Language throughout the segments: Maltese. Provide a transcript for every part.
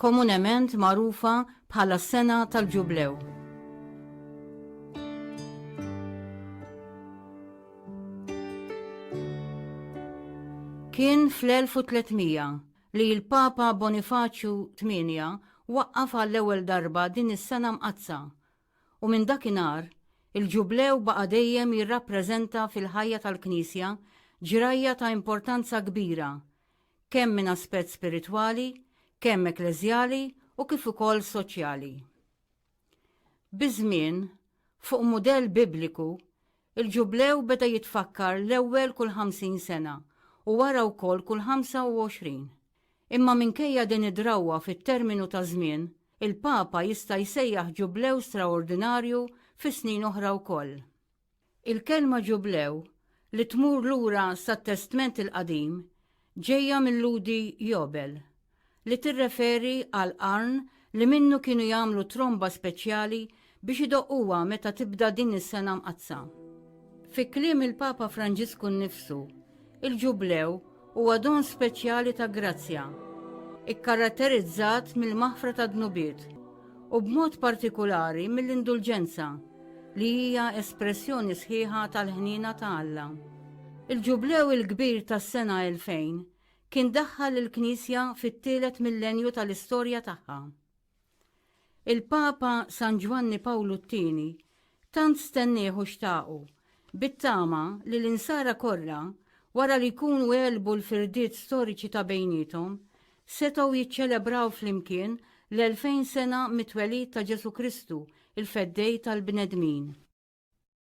komunement magħrufa bħala s-Sena tal-Ġublew. Kien fl-1300 li l-Papa Bonifaċju VIII waqqaf għall-ewwel darba din is-sena mqaddsa u minn dakinhar il-Ġublew baqa' dejjem jirrappreżenta fil-ħajja tal-Knisja ġrajja ta' importanza kbira kemm minn aspett spiritwali, kemm ekkleżjali u kif ukoll soċjali. Biż-żmien, fuq mudell Bibliku, il-Ġublew beda jitfakkar l-ewwel kull 50 sena u wara wkoll kull 25. Imma minkejja din id-drawwa fit-terminu ta' żmien, il-Papa jista' jsejjaħ Ġublew straordinarju fi snin oħra wkoll. Il-kelma ġublew, li tmur lura sat-Testment il-Qadim, ġejja mil-Lhudi jobel, li tirreferi għal qarn li minnu kienu jagħmlu tromba speċjali biex idoqquha meta tibda din is-sena mqaddsa. Fi kliem il-Papa Franġisku nnifsu, Il-Ġublew huwa don speċjali ta' grazzja, ikkaratterizzat mill-maħfra tad-dnubiet u b'mod partikulari mill-indulġenza, li hija espressjoni sħiħa tal-ħniena ta' Alla. Il-Ġublew il-kbir tas-sena 2000 kien daħħal lill-Knisja fit-tielet millenju tal-istorja tagħha. Il-Papa San Ġwanni Pawlu t-Tieni tant stennieh u xtaqu, bit-tama li l-Insara kollha, wara li jkunu għelbu l-firdiet storiċi ta' bejniethom, setgħu jiċċelebraw flimkien l-elfejn sena mit-twelid ta' Ġesù Kristu, il-Feddej tal-bnedmin.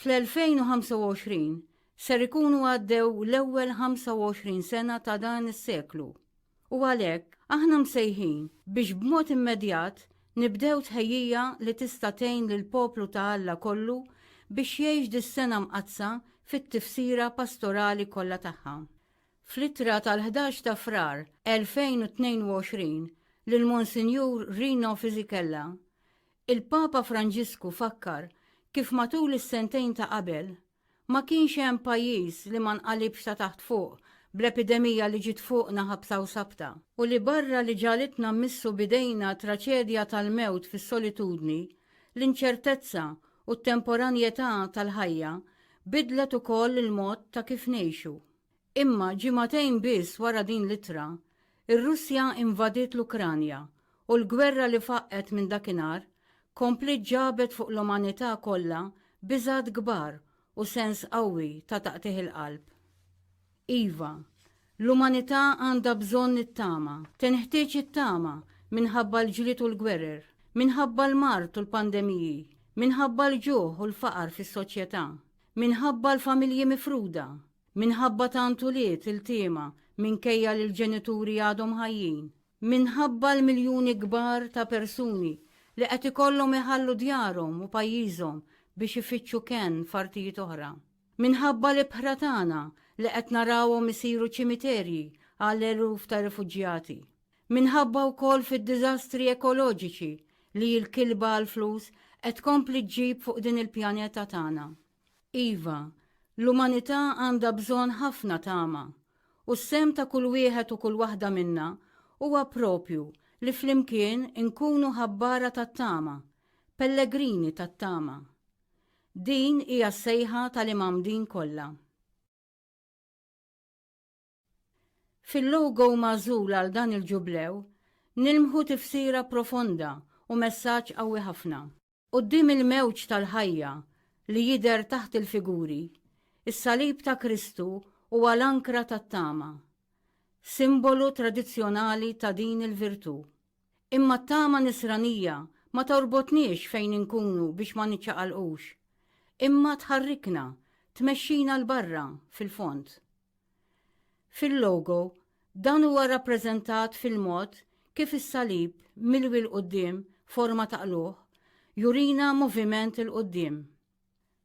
Fl-2025 ser ikunu għaddew l-ewwel 25 sena ta' dan is-seklu u għalhekk aħna msejħin biex b'mod immedjat nibdew tħejjija li tista' tgħin lill-poplu ta' Alla kollu biex jgħix dis-sena mqaddsa fit-tifsira pastorali kollha tagħha. Fl-ittra tal-11 ta' Frar 2022 lil Monsinjur Rino Fisichella, Il-Papa Franġisku fakkar kif matul is-sentejn ta' qabel, ma kienx hemm pajjiż li ma nqalibx ta' taħt fuq bl-epidemija li ġiet fuqna ħabsa u sabta, u li barra li ġagħlitna mmissu b'idejna traċedja tal-mewt fis-solitudni, l-inċertezza u t-temporanjetà tal-ħajja biddlet ukoll il-mod ta' kif ngħixu. Imma ġimagħtejn biss wara din l-ittra, ir-Russja invadiet l-Ukranja u l-gwerra li faqqgħet minn dakinhar kompliet ġabet fuq l-umanità kollha biżgħat kbar u sens qawwi ta' taqtigħ il-qalb. Iva, l-umanità għandha bżonn it-tama. Tinħtieġ it-tama minħabba l-ġlied u l-gwerer, minħabba l-mard u l-pandemiji, minħabba l-ġuħ u l-faqar fis-soċjetà, Minħabba l-familji mifruda, minħabba tant ulied iltiema minkejja li l-ġenituri għadhom ħajjin, minħabba l-miljuni kbar ta' persuni li qed ikollhom iħallu djarhom u pajjiżhom biex ifittxu kenn f'artijiet oħra, minħabba l-ibħra tagħna li qed narawhom isiru ċimiterji għal eluf ta' rifuġjati. Minħabba wkoll fid-diżastri ekoloġiċi li l-kilba għall-flus qed tkompli ġġib fuq din il-pjaneta tagħna. Iva, l-umanità għandha bżonn ħafna tama, u s-sehem ta' kull wieħed u kull waħda minna huwa proprju li flimkien inkunu ħabbara tat-tama, pellegrini tat-tama. Din hija s-sejħa tal-imgħammdin kollha. Fil-logo magħżul għal dan il-Ġublew nilmħu tifsira profonda u messaġġ qawwi ħafna. Quddiem il-mewġ tal-ħajja li jidher taħt il-figuri, is-salib ta' Kristu huwa l-ankra tat-tama, simbolu tradizzjonali ta' din il-virtù. Imma t-tama Nisranija ma torbotniex fejn inkunu biex ma niċċaqalqux, imma tħarrikna, tmexxina 'l barra, fil-fond. Fil-logo, dan huwa rrappreżentat fil-mod kif is-salib milwi 'l quddiem forma ta' qlugħ jurina moviment 'il quddiem.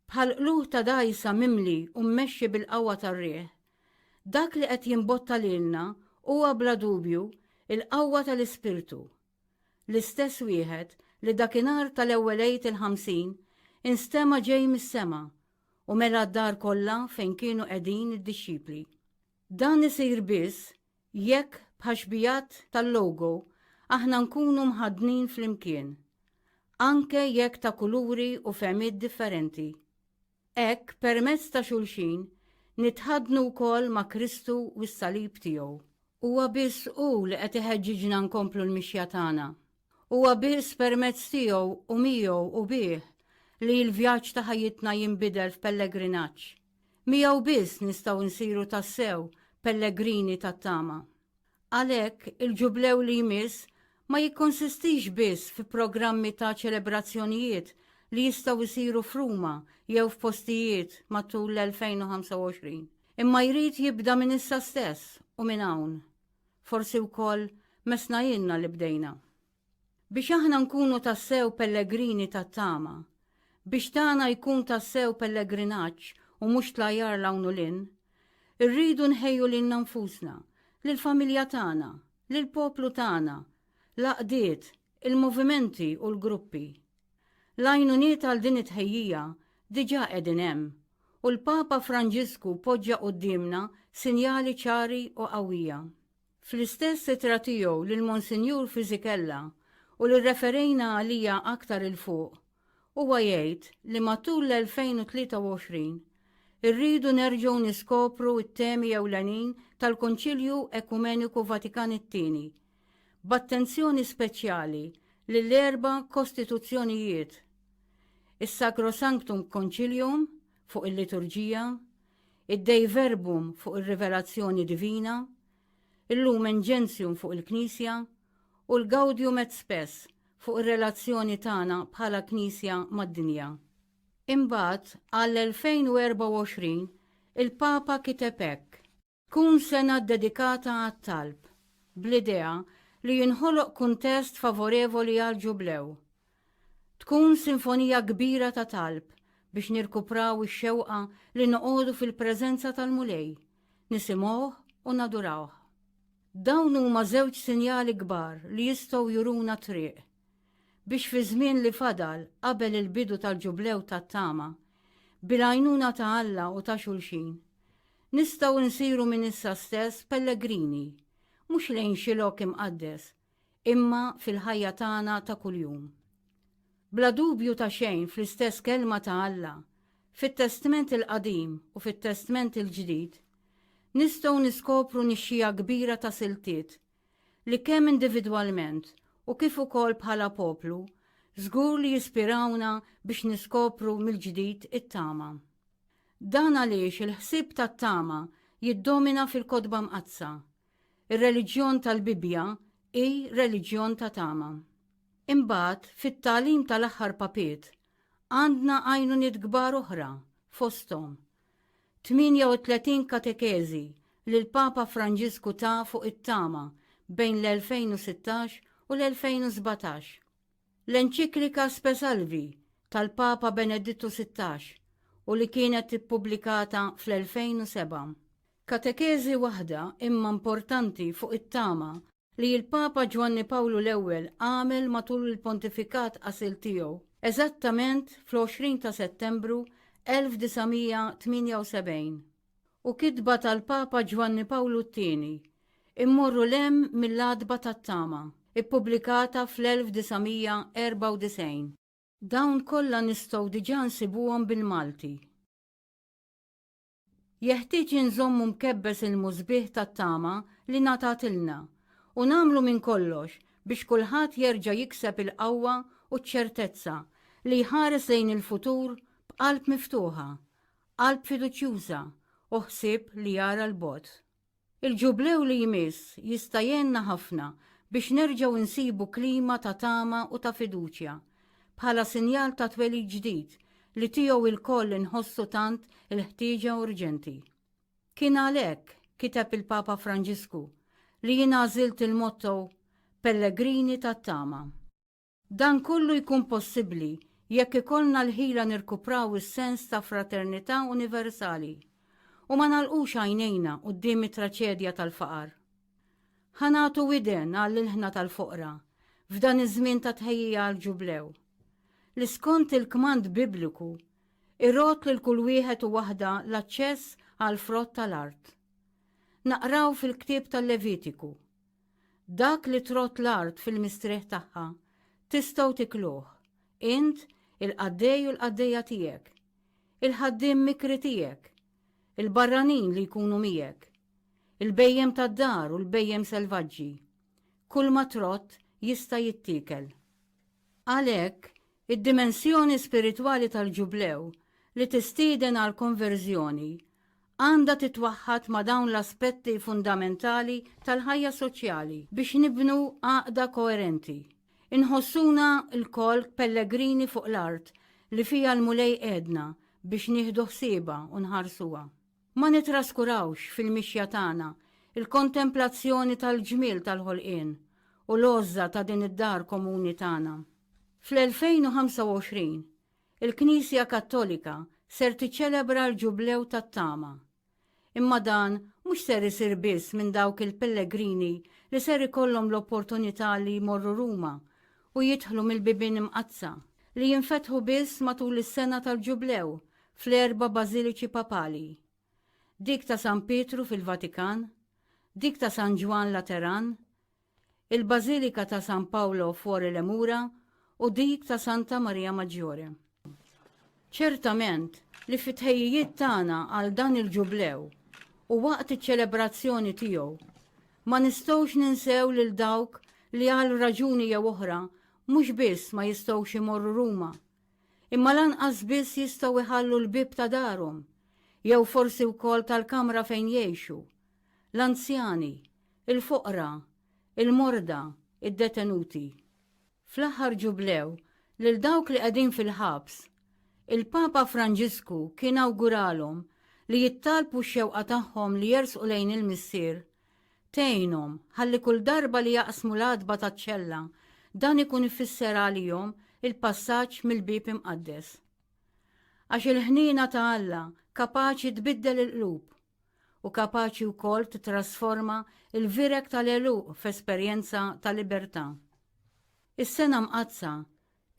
Bħal qlugħ ta' dgħajsa mimli u mmexxi bil-qawwa tar-riħ, dak li qed jimbotta lilna huwa bla dubju l-qawwa tal-Ispirtu, l-istess wieħed li dakinhar tal-ewwel Għid il-Ħamsin instema' ġej mis-sema u mela d-dar kollha fejn kienu qegħdin id-dixxipli. Dan isir biss jekk bħax-xbijat tal-logo aħna nkunu mħaddnin flimkien, anke jekk ta' kuluri u fehmiet differenti. Hekk, permezz ta' xulxin, nitħaddnu wkoll ma' Kristu u s-salib tiegħu. Huwa biss hu li qed iħeġġiġna nkomplu l-mixja tagħna. Huwa biss permezz tiegħu u miegħu u bih li l-vjaġġ ta' ħajjitna jinbidel f'pellegrinaġġ. Miegħu biss nistgħu nsiru tassew pellegrini tat-tama. Għalhekk, il-Ġublew li jmiss ma jikkonsistix biss fi programmi ta' ċelebrazzjonijiet li jistgħu jsiru f'Ruma jew f'postijiet matul l-2025, imma jrid jibda minn issa stess u minn hawn. Forsi wkoll messna ilna li bdejna. Biex aħna nkunu tassew pellegrini tat-tama, biex tagħna jkun tassew pellegrinaġġ u mhux tlajjar 'l hawn u 'l hinn, irridu nħejju lilna nfusna, lill-familja tagħna, lill-poplu tagħna, l-għaqdiet, il-movimenti u l-gruppi. L-għajnuniet għal din it-tħejjija diġà qegħdin hemm u l-Papa Franġisku poġġa quddiemna sinjali ċari u qawwija. Fl-istess ittra tiegħu lil Monsinjur Fisichella u li rreferejna għaliha aktar 'il fuq, huwa jgħid li matul l-2023 irridu nerġgħu niskopru t-temi ewlenin tal-Konċilju Ekumeniku Vatikan it-Tieni, b'attenzjoni speċjali lill-erba' kostituzzjonijiet, is-Sacrosanctum Concilium fuq il-liturġija, id-Dei Verbum fuq ir-rivelazzjoni divina, il-Lumen Gentium fuq il-Knisja, u l-Gaudium et Spes fuq ir-relazzjoni tagħna bħala Knisja mad-dinja. Imbagħad, għall-2024, il-Papa kiteb hekk. Tkun sena ddedikata għat-talb, bl-idea li jinħoloq kuntest favorevoli għall-Ġublew, Tkun sinfonija kbira ta' talb biex nirkupraw ix-xewqa li noqogħdu fil-preżenza tal-Mulej, nisimgħuh u nadurawh. Dawn huma żewġ sinjali kbar li jistgħu juruna t-triq, biex fiż-żmien li fadal qabel il-bidu tal-Ġublew tat-Tama, bil-għajnuna ta' Alla u ta' xulxin, nistgħu nsiru minn issa stess pellegrini, mhux lejn xi lok imqaddes, imma fil-ħajja tagħna ta' kuljum. Bla dubju ta' xejn fl-istess Kelma ta' Alla, fit-Testment il-Qadim u fit-Testment il-Ġdid, nistgħu niskopru nixxiegħa kbira ta' siltiet li kemm individwalment u kif ukoll bħala poplu żgur li jispirawna biex niskopru mill-ġdid it-tama. Dan għaliex il-ħsieb tat-tama jiddomina fil-Kotba Mqaddsa, Ir-reliġjon tal-Bibbja hi reliġjon ta' tama. Imbagħad, fit-tagħlim tal-aħħar papiet, għandna għajnuniet kbar oħra, fosthom 38 katekeżi li l-Papa Franġisku ta fuq it-tama bejn l-2016 u l-2017, l-enċiklika Spe Salvi tal-Papa Benedittu 16 u li kienet ippubblikata fl-2007. Katekeżi waħda imma importanti fuq it-tama li l-Papa Ġwanni Pawlu l-Ewwel għamel matul il-pontifikat qasil tiegħu, eżattament fl-20 ta' Settembru 1978. U kitba tal-Papa Ġwanni Pawlu t-Tieni, Immorru 'l hemm mill-għatba tat-tama, ippubblikata fl-1994. Dawn kollha nistgħu diġà nsibuhom bil-Malti. Jeħtieġ inżommu mkebbes il-musbieħ tat-tama li ngħatatilna u nagħmlu minn kollox biex kulħadd jerġa' jikseb il-qawwa u ċ-ċertezza li jħares lejn il-futur b'qalb miftuħa, qalb fiduċjuża u ħsieb li jara 'l bogħod. Il-Ġublew li jmiss jista' jgħinna ħafna biex nerġgħu nsibu klima ta' tama u ta' fiduċja, bħala sinjal ta' twelid ġdid li tiegħu lkoll inħossu tant il-ħtieġa urġenti. Kien għalhekk, kiteb il-Papa Franġisku, li jien għażilt il-motto Pellegrini tat-Tama. Dan kollu jkun possibbli jekk ikollna l-ħila nirkupraw is-sens ta' fraternità universali u ma nagħlqux għajnejna quddiem it-traċedja tal-faqar. Ħa nagħtu widen għall-ilħna tal-foqra f'dan iż-żmien ta' tħejjija għall-Ġublew, li skont il-kmand Bibliku jrodd lil kull wieħed u waħda l-aċċess għall-frott tal-art. Naqraw fil-ktieb tal-Levitiku, Dak li trodd l-art fil-mistrieħ tagħha, tistgħu tikluh, int, il-qaddej u l-qaddejja tiegħek, il-ħaddiem mikri tiegħek, il-barranin li jkunu miegħek, il-bhejjem tad-dar u l-bhejjem selvaġġi. Kulma trodd jista' jittiekel. Għalhekk, Id-dimensjoni spiritwali tal-Ġublew, li tistieden għall-konverżjoni, għandha titwaħħad ma' dawn l-aspetti fundamentali tal-ħajja soċjali biex nibnu għaqda koerenti. Inħossuna lkoll pellegrini fuq l-art li fiha l-Mulej qiegħedna biex nieħdu ħsiebha u nħarsuha. Ma nittraskurawx, fil-mixja tagħna, il-kontemplazzjoni tal-ġmiel tal-ħolqien u l-għożża ta' din id-dar komuni tagħna. Fl-2025, il-Knisja Kattolika ser tiċċelebra l-Ġublew tat-Tama. Imma dan mhux ser isir biss minn dawk il-pellegrini li ser ikollhom l-opportunità li jmorru Ruma u jidħlu mill-bibien imqaddsa, li jinfetħu biss matul is-sena tal-Ġublew, fl-erba' bażiliċi papali, dik ta' San Pietru fil-Vatikan, dik ta' San Ġwann Lateran, il-Bażilika ta' San Paolo Fuori le Mura u dik ta' Santa Maria Maggiore. Ċertament li fit-tħejjijiet tagħna għal dan il-Ġublew u waqt iċ-ċelebrazzjoni tiegħu, ma nistgħux ninsew lil dawk li għal raġuni jew oħra mhux biss ma jistgħux imorru Ruma, imma lanqas biss jistgħu jħallu l-bieb ta' darhom, jew forsi wkoll tal-kamra fejn jgħixu, l-anzjani, il-foqra, il-morda, id-detenuti. Fl-aħħar Ġublew, lil dawk li qegħdin fil-ħabs, il-Papa Franġisku kien awguralhom li jittalbu x-xewqa tagħhom li jersqu lejn il-Missier Tgħinhom, ħalli kull darba li jaqsmu l-għatba taċ-ċella, dan ikun ifisser għalihom il-passaġġ mill-bieb imqaddes. Għax il-ħniena ta' Alla kapaċi tbiddel il-qlub u kapaċi wkoll titrasforma l-vireg tal-għeluq f'esperjenza ta' libertà. Is-sena mqaddsa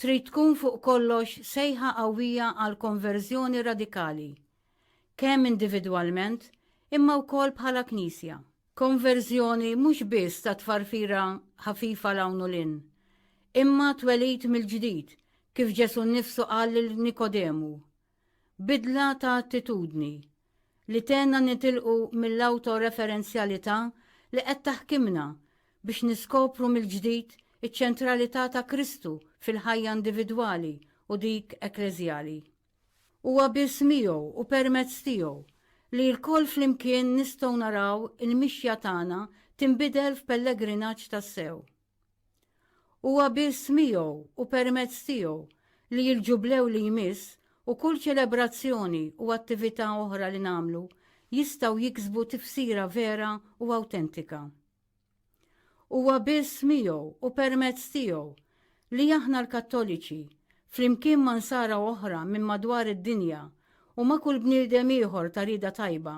trid tkun fuq kollox sejħa qawwija għal konverżjoni radikali, kemm individwalment imma wkoll bħala Knisja. Konverżjoni mhux biss ta' tfarfira ħafifa 'l hawn u 'l hinn, imma twelid mill-ġdid, kif Ġesù nnifsu qal lil Nikodemu. Bidla ta' attitudni, li tgħinna nitilqu mill-awtoreferenzjalità li qed taħkimna biex niskopru mill-ġdid iċ-ċentralità ta' Kristu fil-ħajja individwali u dik ekkleżjali. Huwa biss miegħu u permezz tiegħu li lkoll flimkien nistgħu naraw il-mixja tagħna tinbidel f'pellegrinaġġ tassew. Huwa biss miegħu u permezz tiegħu li l-Ġublew li jmiss u kull ċelebrazzjoni u attività oħra li nagħmlu jistgħu jiksbu tifsira vera u awtentika. Huwa biss miegħu u permezz tiegħu li aħna l-Kattoliċi, flimkien ma' Nsara oħra minn madwar id-dinja u ma' kull bniedem ieħor ta' rieda tajba,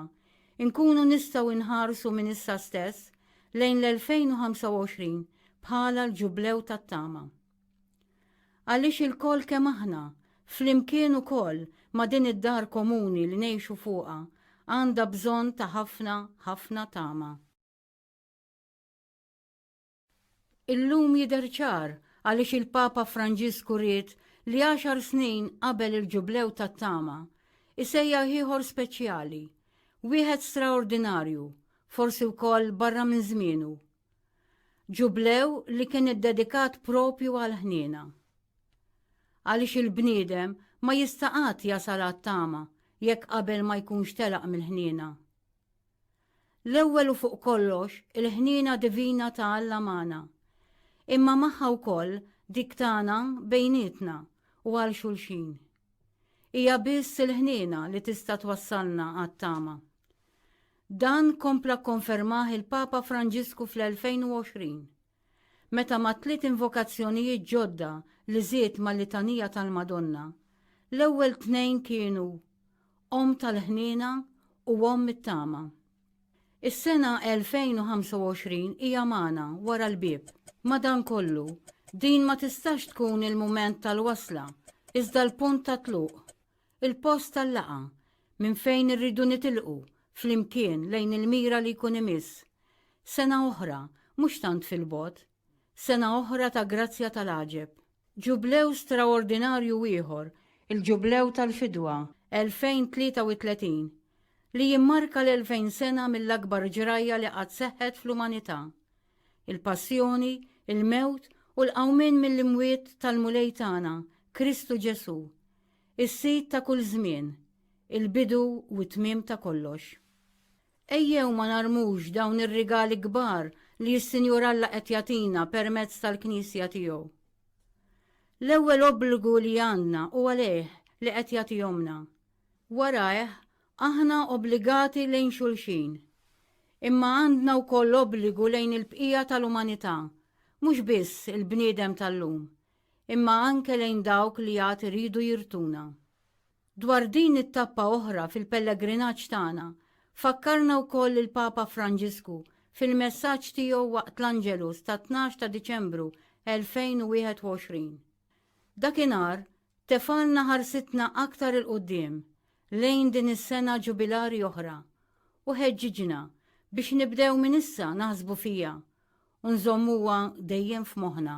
inkunu nistgħu nħarsu minn issa stess lejn l-2025 bħala l-Ġublew tat-tama. Għaliex ilkoll kemm aħna, flimkien ukoll ma' din id-dar komuni li ngħixu fuqha, għandha bżonn ta' ħafna, ħafna tama. Illum jidher ċar għaliex il-Papa Franġisku ried li għaxar snin qabel il-Ġublew tat-Tama isejjaħ ieħor speċjali, wieħed straordinarju, forsi wkoll barra minn żmienu. Ġublew li kien iddedikat propju għal ħniena. Għaliex il-bniedem ma jistaqat jasal għat-tama jekk qabel ma jkunx telaq mill-ħniena. L-ewwel u fuq kollox il-ħniena divina ta' Alla magħna, imma magħha wkoll dik tagħna bejnietna u għal xulxin. Hija biss il-ħniena li tista' twassalna għat-tama. Dan kompla kkonfermah il-Papa Franġisku fl-2020. Meta mat-tliet invokazzjonijiet ġodda li żied mal-Litanija tal-Madonna, l-ewwel tnejn kienu Omm tal-ħniena u Omm it-tama. Is-sena 2025 hija magħna, wara l-bieb. Madankollu, din ma tistax tkun il-mument tal-wasla, iżda l-punt tat-tluq. Il-post tal-laqgħa, minn fejn irridu nitilqu flimkien lejn il-mira li jkun imiss. Sena oħra, mhux tant fil-bogħod. Sena oħra ta' grazzja tal-għaġeb. Ġublew straordinarju ieħor, il-Ġublew tal-Fidwa 2033, li jimmarka l-elfejn sena mill-akbar ġrajja li qatt seħħet fl-umanità, il-passjoni, il-mewt u l-qawmien mill-imwiet tal-Mulej tagħna, Kristu Ġesù, Is-Sid ta' kull żmien, il-bidu u t-tmiem ta' kollox. Ejjew ma narmux dawn ir-rigali kbar li s-Sinjur Alla qed jagħtina permezz tal-Knisja tiegħu. L-ewwel obbligu li għandna u għalih li qed jagħtihomlna. Warajh, aħna obbligati lejn xulxin. Imma għandna wkoll obbligu lejn il-bqija tal-umanità, mhux biss il-bniedem tal-lum, imma anke lejn dawk li għad iridu jirtuna. Dwar din it-tappa oħra fil-pellegrinaġġ tagħna, fakkarna wkoll il-Papa Franġisku fil-messaġġ tiegħu waqt l-Angelus tat-tnax ta' Diċembru 2021. Dakinhar tefgħalna ħarsitna aktar 'il quddiem lejn din is-sena ġubilari oħra u ħeġġiġna biex nibdew minn issa naħsbu fiha u nżommuha dejjem f'moħħna.